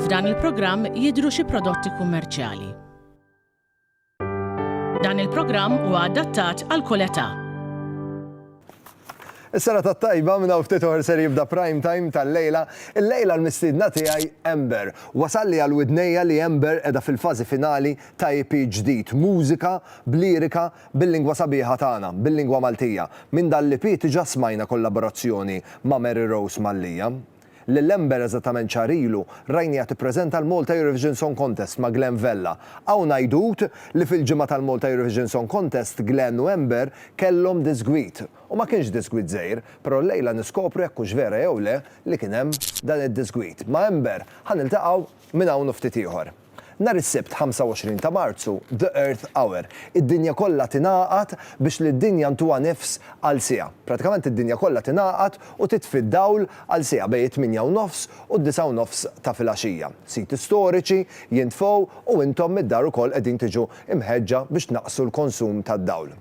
F'dan il-programm jidhru xi prodotti kummerċjali. Dan il-programm huwa adattat għal kull età. Is-sena tat-tajba minn hawn ftit oħra ser jibda prime time tal-lejla. Il-lejla l-mistiedna tiegħi Ember. Wasalli għal widnejja li Ember qiegħda fil-fażi finali ta' EP ġdid, mużika b'lirika Bil-lingwa sabiħa tagħna, bil-lingwa Maltija. Minn dan l-EP diġà smajna kollaborazzjoni ma' Mary Rose Mallia. Lil Ember eżattament xahar ilu rajniha tippreżenta l-Malta Eurovision Song Contest ma' Glen Vella. Hawn għidut li fil-ġimgħa tal-Malta Eurovision Song Contest Glen u Ember kellhom disgwit. U ma kienx disgwit żgħir, però llejla niskopru jekk hux vera jew le li kien hemm dan id-disgwit. Ma' Ember ħa niltaqgħu Minn hawn u ftit ieħor. Nhar is-Sibt 25 ta' Marzu, The Earth Hour, id-dinja kollha tingħaqad biex lid-dinja ntuha nifs għal siegħa. Pratikament id-dinja kollha tingħaqad u titfi d-dawl għal siegħa bejn it-tmienja u nofs u d-disgħa u nofs ta' filgħaxija. Siti storiċi jintfgħu u intom mid-dar ukoll qegħdin tiġu mħeġġa biex tnaqqsu l-konsum tad-dawl.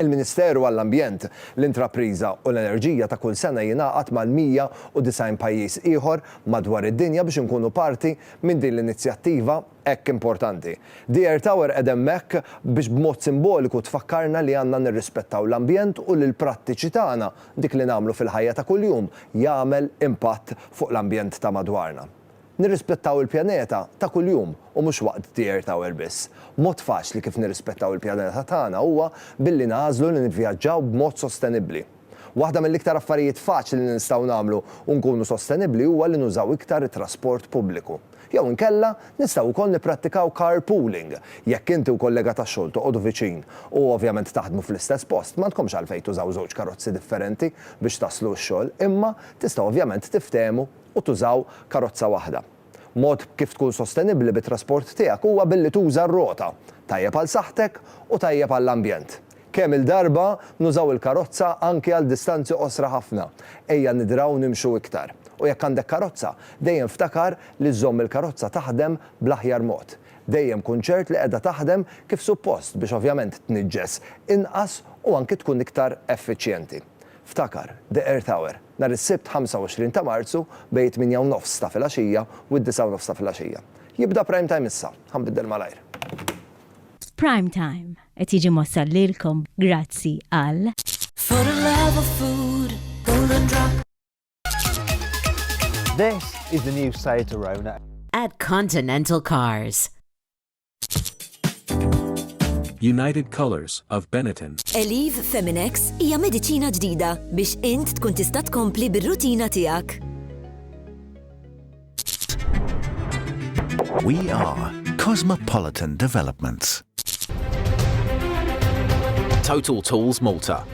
Il-Ministeru għall-Ambjent, l-Intrapriża u l-Enerġija ta' kull sena jingħaqad mal-190 pajjiż ieħor madwar id-dinja biex inkunu parti minn din l-inizjattiva hekk importanti. The Air Tower qegħda hemmhekk biex b'mod simboliku tfakkarna li għandna nirrispettaw l-ambjent u li l-prattiċi tagħna, dik li nagħmlu fil-ħajja ta' kuljum, jagħmel impatt fuq l-ambjent ta' madwarna. Nirrispettaw il-pjaneta ta' kuljum u mhux waqt The Earth Hour biss. Mod faċli kif nirrispettaw il-pjaneta tagħna huwa billi nagħżlu li nivvjaġġaw b'mod sostenibbli. Waħda mill-iktar affarijiet faċli li nistgħu nagħmlu u nkunu sostenibbli huwa li nużaw iktar it-trasport pubbliku. Jew inkella, nistgħu wkoll nipprattikaw carpooling. Jekk inti u kollega tax-xogħol toqogħdu viċin u ovvjament taħdmu fl-istess post, m'għandkomx għalfejn tużaw żewġ karozzi differenti biex taslu x-xogħol, imma tistgħu ovvjament tiftehmu u tużaw karozza waħda. Mod kif tkun sostenibbli bit-trasport tiegħek huwa billi tuża r-rota, tajjeb għal saħħtek u tajjeb għall-ambjent. Kemm-il darba nużaw il-karozza anki għal distanzi qosra ħafna, ejja nidraw nimxu iktar. U jekk għandek karozza, dejjem ftakar li żżomm il-karozza taħdem bl-aħjar mod. Dejjem kun ċert li qiegħda taħdem kif suppost biex ovvjament tniġġes inqas u anki tkun iktar effiċjenti. Ftakar, the earth hour. Nhar is-Sibt 25 ta' Marzu bejn it-tmienja u nofs ta' filgħaxija u d-disgħa u nofs ta' filgħaxija. Jibda Prime Time issa. Ħa nbiddel malajr. Prime Time qed jiġi mwassal lilkom grazzi għal. This is the new site to Rona. At Continental Cars. United Colors of Benetton. Eliv Feminex hija mediċina ġdida biex int tkun tista' tkompli bir-rutina tiegħek. We are Cosmopolitan Developments. Total Tools Malta.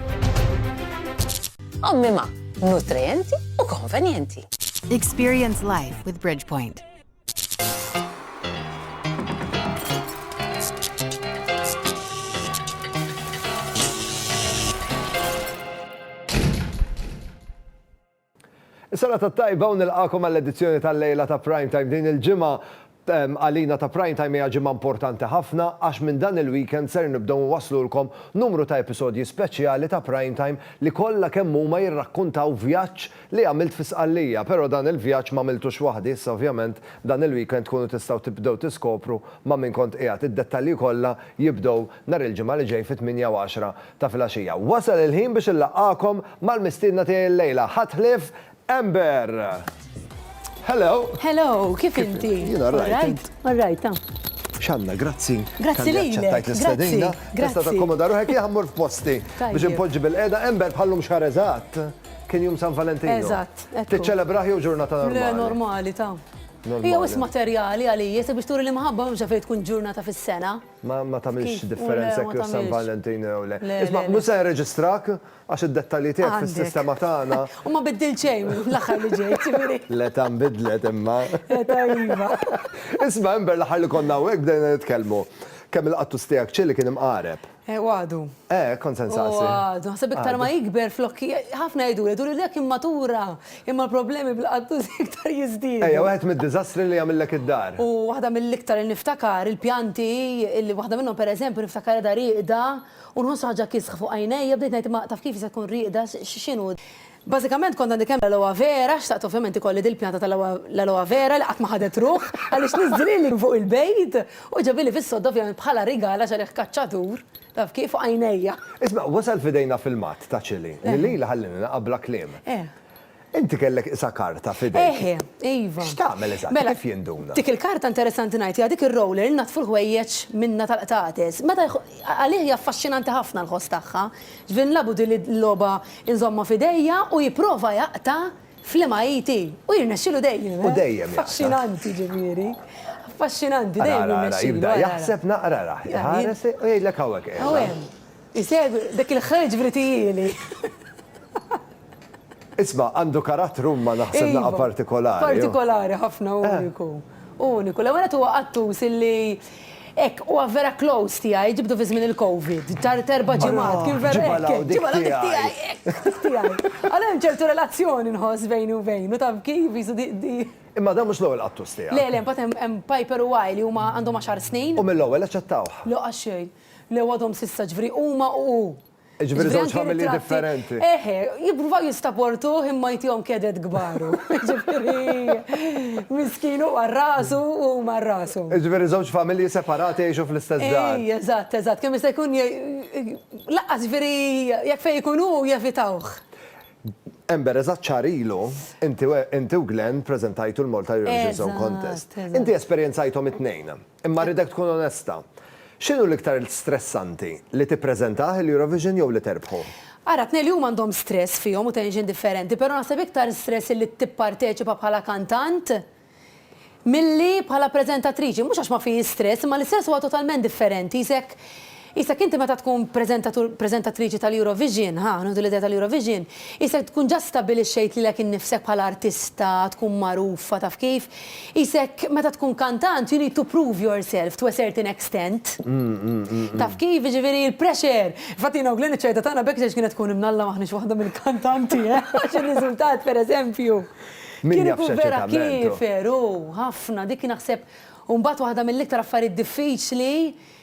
Ommima, nutrienti u konvenjenti. Experience life with Bridgepoint. Sena ta' tajba un il-għakom għall-edizzjoni tal-lejla ta' prime time din il-ġimma għalina ta' prime time hija ġimma importanti ħafna għax minn dan il-weekend ser nibdew nwaslulkom numru ta' episodji speċjali ta' prime time li kollha kemm huma jirrakkuntaw vjaġġ Li għamilt fi Sqallija, pero dan il-vjaġġ m'għamiltux waħdi, issa ovvjament dan il-weekend tkunu tistgħu tibdew tiskopru ma' min kont qiegħed, id-dettalji kollha jibdew nhar il-Ġimgħa li ġej fit-tmienja u għaxra ta' filgħaxija. Wasal il-ħin biex inlaqqagħkom mal-mistiedna tiegħi llejla, ħadd ħlief Amber! Hello! Hello, kif inti? Jien all right, int? All right, ah. X'għandna, grazzi. Grazzi lilek. Talli aċċettajt l-istedina. Grazzi, grazzi. Tista' takkomoda ruħek, jien ħa mmur f'posti biex inpoġġi bil-qiegħda Amber bħal-lum xahar eżatt. Kien jum San Valentino. Eżatt. Tiċċelebrah jew ġurnata normali? Le, normali ta. Hija wis materjali għalija, sabiex turi l-imħabba mhux fejn tkun ġurnata fis-sena. Ma ma tagħmilx differenza jekk San Valentino jew le. Isma' mhux se nirreġistrak għax id-dettalji tiegħek fis-sistema tagħna. U ma biddil xejn l-aħħar li ġej, ġifieri. Le ta' nbidlet imma. Ta' iva. Isma' Ember l-aħħar li konna hawnhekk bdejna nitkellmu. Kemm il-qattus tiegħek ċilli kien imqareb. Eh, u għadu. Eh, kont se nsaqsi. U għadu, ħaseb iktar ma jikber flokki, ħafna jgħidu li duri dak immatura, imma l-problemi bil-qaddu iktar jiżdiedu. Ejja, wieħed mid-diżastri li jagħmillek id-dar. U waħda mill-iktar li niftakar il-pjanti li waħda minnhom pereżempju niftakar da riqda u nħoss ħaġa kisħ fuq għajnejja bdejt ngħid ma taf kif se tkun riqda x'inhu. Bażikament kont għandi kemm l-aloe vera, xtaqt ovvjament ikolli dil-pjanta tal-aloe vera li qatt ma ħadet ruħ għaliex niżżilha li fuq il-bejt u ġabieli fis-sodda ovvjament bħala rigal għax għalih kaċċatur, taf kif, fuq għajnejja. Isma', wasal f'idejna filmat ta' Chilli li lili ħallieni naqa' bla kliem. Inti kellek qisha karta f'idejk. Eħe, iva. X'tagħmel eżatt? Kif jinduna? Dik il-karta interessanti ngħid hija dik ir-roller li ngħaddfu l-ħwejjeġ minnha tal-qtates. Meta għalih hija affaxxinanti ħafna l-ħoss tagħha. Jvin lagħbu din il-logħba inżommha f'idejja u jipprova jaqta' fl-imgħajti u jirnexxilu dejjem, eh? Affaxxinanti, ġifieri. Affaxxinanti, dejjem jirnexxilu. Ara, ara, jibda jaħseb naqra, ra, iħares u jgħidlek hawnhekk qiegħda. Hawn hemm. Isegwi dik il-ħrejġ vritijieli. Isma' għandu karattru imma naħseb naqgħa partikolari. Iva, partikolari ħafna u uniku. U uniku. L-ewwel nett huwa qattus illi hekk huwa vera close tiegħi, ġibtu fi żmien il-Covid, tard erba' ġimgħat, kien vera hekk. Ġibha l-hawn dik tiegħi. Ġibha l-hawn dik tiegħi, hekk, tiegħi. Allura hemm ċertu relazzjoni nħoss bejni u bejnu, taf kif, qisu di. Imma dan mhux l-ewwel qattus tiegħek. Le, le, imbagħad hemm Piper u Wai li huma għandhom għaxar snin. U mill-ewwel aċċettawh? Le, qatt xejn. Le, u għadhom s'issa, ġifieri huma u hu. Ġifieri żewġ familji differenti. Eħe, jippruvaw jistaportuh imma jtihom kedet kbaru. Ġifieri miskin hu għal rasu u huma għal rashom. Ġifieri żewġ familji separati jgħixu fl-istess dar. Ej, eżatt, eżatt, kemm jista' jkun lanqas ġifieri jekk fejn ikun hu jevitawh. Ember, eżatt xahar ilu, inti u Glenn preżentajtu l-Malta Eurovision Song Contest. Inti esperjenzajthom it-tnejn. Imma rridek tkun onesta. X'inhu l-iktar stressanti, li tippreżentah il-Eurovision jew li terbħu? Ara, t-tnejn li huma għandhom stress fihom u tension differenti, però naħseb iktar stress illi tipparteċipa bħala kantant milli bħala preżentatriċi. Mhux għax ma fihiex stress, imma l-istress huwa totalment differenti, jisek Qisek inti meta tkun preżentatur, preżentatriċi tal-Eurovision, ħa, nieħdu l-idea tal-Eurovision, qisek tkun ġa stabbilixxejt lilek innifsek bħala artista, tkun magħrufa, taf kif? Qisek meta tkun kantant you need to prove yourself to a certain extent. Taf kif? Jiġifieri il-pressure. Infatti jiena u Glenn iċ-ċajta tagħna b'hekk x'għex kienet tkun imnalla m'aħniex waħda mill-kantanti, eh! Għax ir-riżultat, pereżempju, kien ikun vera kiefer, hu, ħafna. Dik naħseb u mbagħad waħda mill-iktar affarijiet diffiċli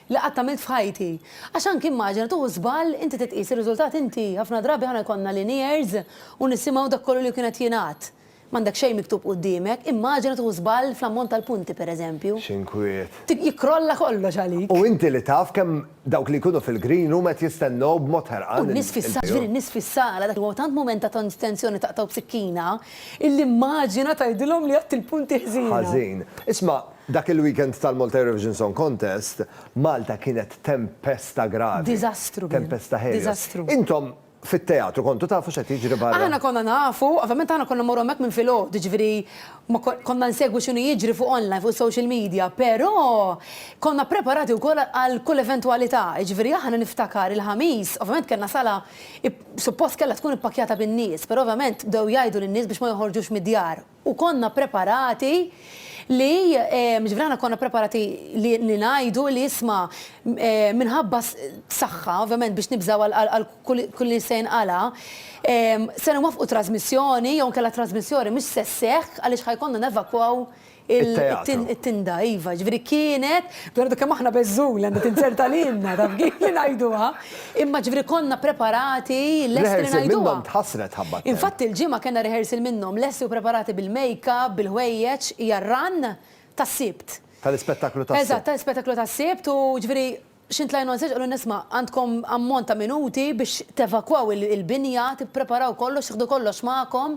li qatt għamilt f'ħajti. Għax anki immaġina tieħu żball inti titqies ir-riżultat inti ħafna drabi aħna jkollna linears u nisimgħu dak kollu li kien qed jingħad. M'għandek xejn miktub quddiemek, immaġina tieħu żball fl-ammont tal-punti pereżempju. X'inkwiet. Jikkrolla kollox għalik. U inti li taf kemm dawk li jkunu fil-green room qed jistennew b'mod ħerqan il-ball. U n-nies fis-sala, ġifieri n-nies fis-sala dak huwa tant mument ta' tensjoni taqtgħu b'sikkina illi immaġina tgħidilhom li għedt il-punti ħżiena. Ħażin. Isma', Dak il-weekend tal-Malta Eurovision Song Contest, Malta kienet tempesta gravi. Diżastru kien. Tempesta Helios. Diżastru. Intom fit-teatru kontu tafu x'qed jiġri barra? Aħna konna nafu, ovvjament aħna konna mmorru hemmhekk minn filgħodu, jiġifieri ma kon, konna nsegwu x'inhu jiġri fuq online, fuq is-social media, però konna ppreparati wkoll għal kull eventwalità. Jiġifieri aħna niftakar il-Ħamis, ovvjament kellna sala ip, suppost kellha tkun ippakkjata bin-nies, però ovvjament bdew jgħidu lin-nies biex ma joħorġux mid-djar. U konna preparati li, ġifieri aħna konna preparati li li ngħidu li isma' minħabba saħħa, ovvjament biex nibżgħu għal għal kull li se jinqala', se nwaffqu trażmissjoni jew inkella trażmissjoni mhux se sseħħ għaliex ħa jkollna nevakwaw il it-tinda. Iva, ġifieri kienet, dwar kemm aħna beżżun li għandha tinzerta lilna, taf kif li ngħiduha. Imma ġifieri konna preparati lesti li ngħiduha. Rehearsal minnhom tħassret ħabba t-temp. Infatti il-Ġimgħa kellna rehearsal minnhom lesti u preparati bil-makeup, bil-ħwejjeġ, hija r-run tas-Sibt. Tal-ispettaklu tas-Sibt. Eżatt, tal-ispettaklu tas-Sibt u ġifieri xi ntlajna on stage qalulna isma' għandkom ammont ta' minuti biex tevakwaw il-binja, tippreparaw kollox, tieħdu kollox magħkom.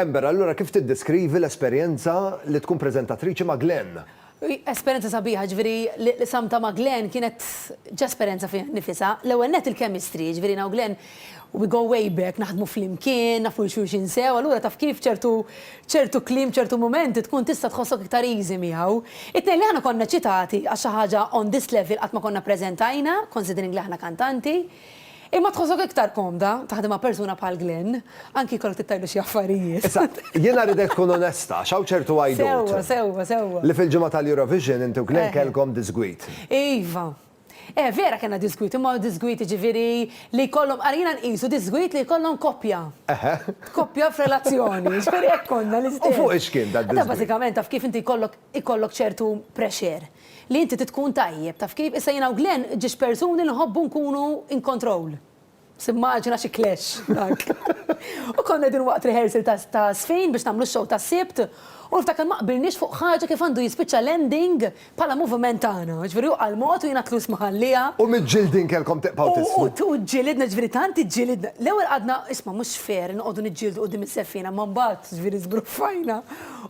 Ember, allura kif tiddeskrivi l-esperjenza li tkun prezentatriċi ma' Glenn? Esperjenza sabiħa, ġviri, li samta ma' Glenn kienet ġesperenza fih nifisa. L-ewel net il-kemistri, ġviri, naw Glenn We go way back, naħdmu flimkien, nafu 'l xulxin sew, allura taf kif ċertu ċertu kliem, ċertu mumenti tkun tista' tħossok iktar easy miegħu. It-tnejn li aħna konna eċċitati għax xi ħaġa on this level qatt ma konna ppreżentajna, considering li aħna kantanti. Imma tħossok iktar komda taħdem ma' persuna bħal Glenn, anki jkollok tittajlu xi affarijiet. Issa, jiena rridek tkun onesta għax hawn ċertu għajdut. Sewwa, sewwa, sewwa. Li fil-ġimgħa tal-Eurovision inti u Glenn kellkom diżgwid. Iva, Eh, vera kellna disgwit, imma disgwit jiġifieri li jkollhom, ara jiena nqisu disgwit li jkollhom koppja. Eħe. Koppja f'relazzjoni, jiġifieri hekk konna l-istess. U fuq ix kien dad-disgwit? Da bażikament taf kif inti jkollok ikollok ċertu pressure li inti trid tkun tajjeb, taf kif? Issa jiena u Glenn ġiex persuni li nħobbu nkunu in control. Timmaġina xi clash dak! U konna qegħdin waqt rehearsal ta' Żfin biex nagħmlu x-show tas-Sibt u niftakar ma qbilniex fuq ħaġa kif għandu jispiċċa l-ending bħala moviment tagħna. Jiġifieri hu qal mod u jiena tlus ma ħallieha. U miġġildin kellkom tiqbgħu tismu. U u ġġilidna, jiġifieri tant iġġilidna. L-ewwel qgħadna, isma' mhux fair inqogħdu niġġieldu quddiem iż-żeffiena, imma mbagħad, jiġifieri żbruffajna.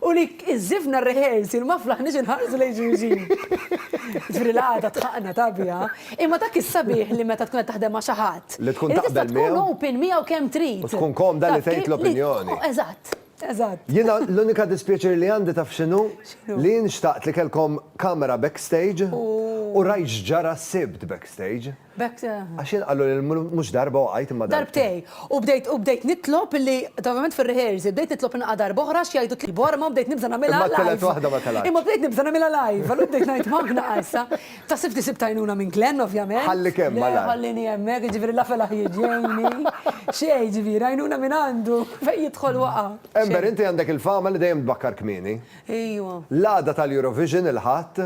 U li iżżifna r-rehearsal ma flaħniex inħarsu lejn xulxin. Ġifieri l-qagħda tħaqqna tagħbiha. Imma dak is-sabiħ li meta tkun qed taħdem ma' xi ħadd. Li tkun taqbel miegħu. Li tista' tkun open miegħu kemm trid. U tkun komda li tgħid l-opinjoni. Eżatt, eżatt. Jiena l-unika dispjaċir li għandi taf x'inhu? X'inhu? Li jien xtaqt li kellkom kamera backstage. U rajt x'ġara s-Sibt backstage. B'hekk. Għax jien qallu li mhux darba u għidt imma darbtejn. Darbtejn. U bdejt nitlob li, ovvjament fir-rehearsal, bdejt nitlob li naqa' darb'oħra għax jgħidu tlibu arma u bdejt nibża' nagħmilha live. Imma t-tielet waħda ma telgħetx. Imma bdejt nibża' nagħmilha live, allura bdejt ngħid Mark naqa' issa. Ta' sifti sibt għajnuna minn Glenn ovvjament. Ħallik hemm malajr. Le ħallini hemmhekk, jiġifieri la felaħ jiġejni. Xejn, jiġifieri għajnuna minn għandu. Fejn jidħol waqa'. Amber inti għandek il-fama li dejjem tbakkar kmieni. Ejwa. L-għada tal-Eurovision il-Ħadd,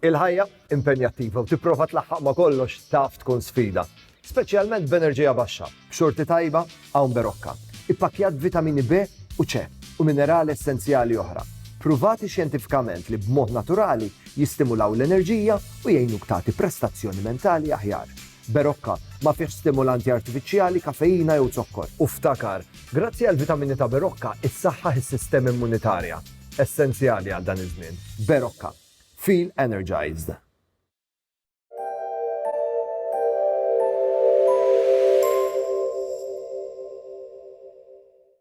Il-ħajja impenjattiva u tipprova tlaħħaq ma' kollox taf tkun sfida, speċjalment b'enerġija baxxa, b'xorti tajba hawn berokka, ippakkjat b'vitamini B u C u minerali essenzjali oħra, pruvati xjentifikament li b'mod naturali jistimulaw l-enerġija u jgħinuk tagħti prestazzjoni mentali aħjar. Berocca, ma fihx stimulanti artifiċjali, kafeina jew zokkor. U ftakar, grazzi għall-vitamini ta' Berocca, issaħħaħ is-sistema immunitarja, essenzjali għal dan iż-żmien. Berocca. Feel energized.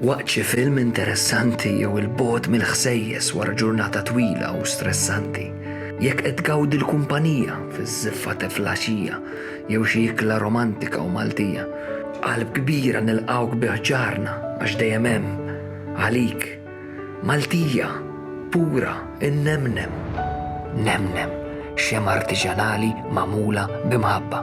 Waqt xi film interessanti jew il-bogħod mill-ħsejjes wara ġurnata twila u stressanti, jekk qed tgawdi l-kumpanija fiż-żiffa ta' flaxija jew xi ikla romantika u Maltija, b'qalb kbira nilqgħuk bi ħġarna għax dejjem hemm għalik. Maltija, pura, innemnem. Nemnem, xemgħa artiġanali magħmula b'imħabba.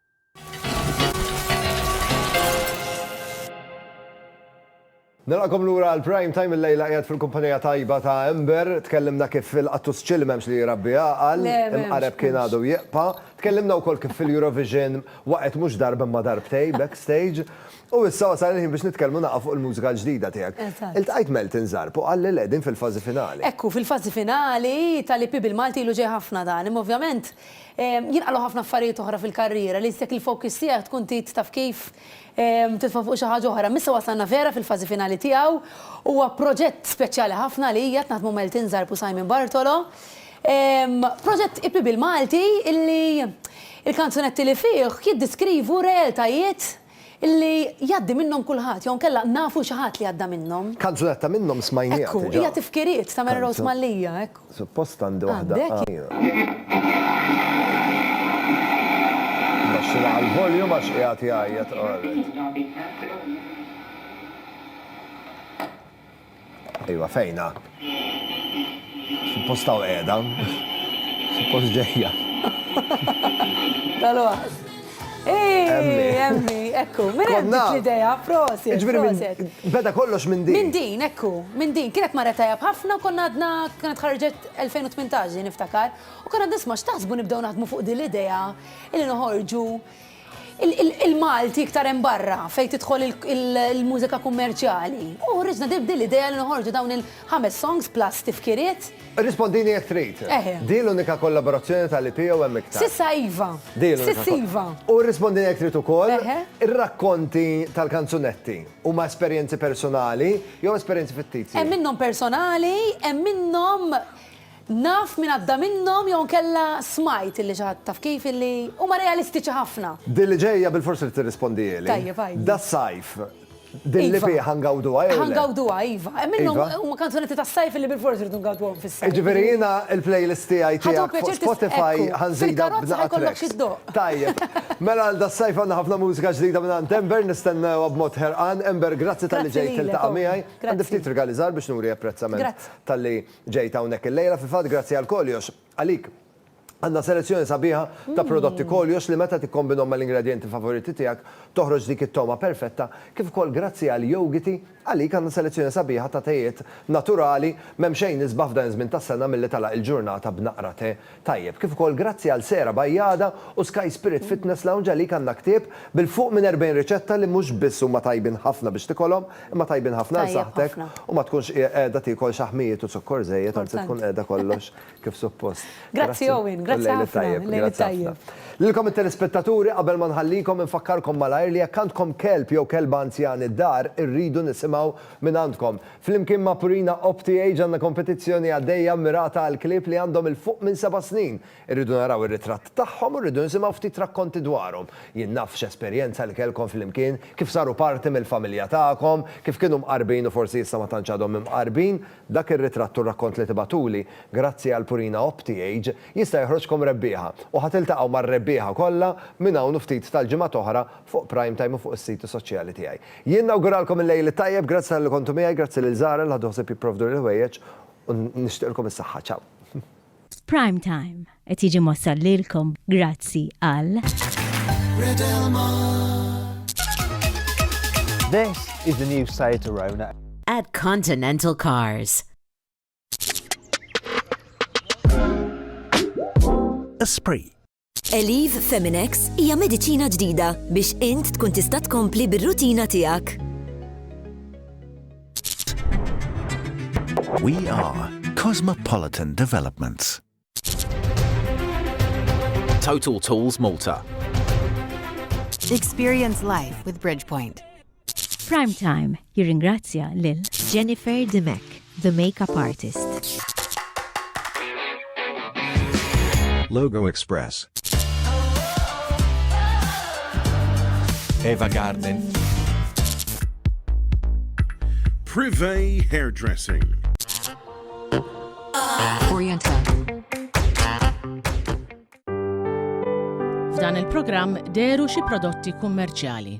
Nilqakom lura għal prime time il-lejla qiegħed fil-kumpanija tajba ta' Ember, tkellimna kif il-qattus ċil m'hemmx li jirabbi għaqal, imqareb kien għadu jieqpa, tkellimna wkoll kif fil-Eurovision waqgħet mhux darba imma darbtej backstage, u issa wasal il-ħin biex nitkellmu naqgħa fuq il-mużika l-ġdida tiegħek. Iltqajt Melton Zarb u qalli le din fil-fażi finali. Ekku, fil-fażi finali tal-EP bil-Malti ilu ġej ħafna dan, imma ovvjament Jinqalgħu ħafna affarijiet oħra fil-karriera li jistek il-focus tiegħek tkun trid taf kif titfa' fuq xi ħaġa oħra. Imma issa wasalna vera fil-fażi finali tiegħu. Huwa proġett speċjali ħafna għalija, qed naħdmu Meltin Zarb u Simon Bartolo. Proġett ipi bil-Malti illi il-kanzunetti li fih jiddiskrivu realtajiet Illi jgħaddi minnhom kulħadd, jew inkella nafu xi ħadd li għadda minnhom. Kanzunetta minnhom smajnieha diġà. Ekku, hija Tifkiriet ta' Mary Rose Mallia, ekku. Suppost għandi waħda. Għandek? Mbaxxilha għall-volume għax qiegħed jgħajjat qared. Iva, fejna? Suppost taw qiegħda. Suppost ġejja. Tal-waħs. Emmi, emmi, ekku, minn hemm dik l-idea, prosi. Beda kollox minn din. Minn din, ekku, minn din. Kienet marret tajab ħafna u konna għadna kienet ħarġet 2018 niftakar. U konna nisma x'taħsbu nibdew naħdmu fuq din l-idea illi noħorġu Il-Malti iktar hemm barra fejn tidħol il-mużika kummerċjali. U ħriġna din l-idea li noħorġu dawn il-ħames songs plus tifkiriet. Irrispondini jekk trid. Din l-unika kollaborazzjoni tal-EP jew hemm iktar? S'issa iva. S'issa iva. U rrispondini jekk trid ukoll, ir-rakkonti tal-kanzunetti huma esperjenzi personali jew esperjenzi fittizji? Hemm minnhom personali, hemm minnhom Naf min għadda minnhom jew inkella smajt illi xi ħadd taf kif illi huma realistiċi ħafna. Din li ġejja bilfors irid tirrispondihieli. Tajjeb għajdi. Das-sajf, din li fih ħa ngawduha jew le? Iva, ħa ngawduha iva. Hemm minnhom huma kanzunetti tas-sajf illi bilfors irridu ngawduhom fis-sajf. Jiġifieri jiena l-playlist tiegħi tiegħek fuq Spotify ħa nżidha b'naqa' tracks. Tajjeb. Mela għal das-sajf għandna ħafna mużika ġdida mingħand Ember, nistennewha b'mod ħerqan. Ember, grazzi talli ġejt tiltaqa' miegħi. Għandi ftit rigali żgħar biex nuri apprezzament talli. ġejt hawnhekk illejla, fil-fatt grazzi għal Koljox, għalik. Għandna selezzjoni sabiħa ta' prodotti Koljox li meta tikkombinhom mal-ingredjenti favoriti tiegħek toħroġ dik it-togħma perfetta, kif ukoll grazzi għal Yogiti, għalik għandna selezzjoni sabiħa ta' tejiet naturali, m'hemm xejn isbaħ f'dan iż-żmien tas-sena milli tagħlaq il-ġurnata b'naqra te tajjeb, kif ukoll grazzi għal Sera Bajada u Sky Spirit Fitness Lounge għalik għandna ktieb bil fuq minn 40 riċetta li mhux biss huma tajbin ħafna biex tikolhom imma tajbin ħafna għal saħħtek u ma tkunx qiegħda tiekol xaħmijiet u zukkor żejjed anzi tkun qiegħda kollox kif suppost. Grazzi Owen, grazzi ħafna, il-lejl it-tajjeb. Lilkom it-telespettaturi qabel ma nħallikom infakkarkom malajr li jekk għandkom kelb jew kelba anzjani d-dar irridu nisimgħu Mingħandkom. Flimkien ma' Purina Opti Age għandna kompetizzjoni għaddejja mmirata għall-klieb li għandhom 'il fuq minn seba' snin. Irridu naraw ir-ritratt tagħhom u rridu nisimgħu ftit rakkonti dwarhom. Jien naf x'esperjenza li kellkom flimkien, kif saru parti mill-familja tagħkom, kif kienu mqarbin u forsi issa ma tantx għadhom imqarbin. Dak ir-ritratt u r-rakkont li tibagħtuli, grazzi għal Purina Opti Age, jista' joħroġkom rebbieħa. U ħa tiltaqgħu mar-rebbieħa kollha minn hawn u ftit tal-ġimgħat oħra fuq Prime Time u fuq is-siti soċjali tiegħi. Jien nawguralkom il-Lejl it-Tajjeb, grazzi talli kontu miegħi, grazzi lil Zahra li ħadu ħsieb jipprovduni l-ħwejjeġ u nixtieqilkom is-saħħa. Ciao. Prime Time qed jiġi mwassal lilkom grazzi għal. Red Elmar. This is the new Seat Arona. At Continental Cars. Esprit. Elif Feminex hija mediċina ġdida biex int tkun tista' tkompli bir-rutina tiegħek. We are Cosmopolitan Developments. Total Tools Malta. Experience life with Bridgepoint. Prime Time jirringrazzja lil Jennifer Dimech, the makeup artist. Logo Express. Eva Garden. Privé Hairdressing. Oriental. F'dan il-programm deru xi prodotti kummerċjali.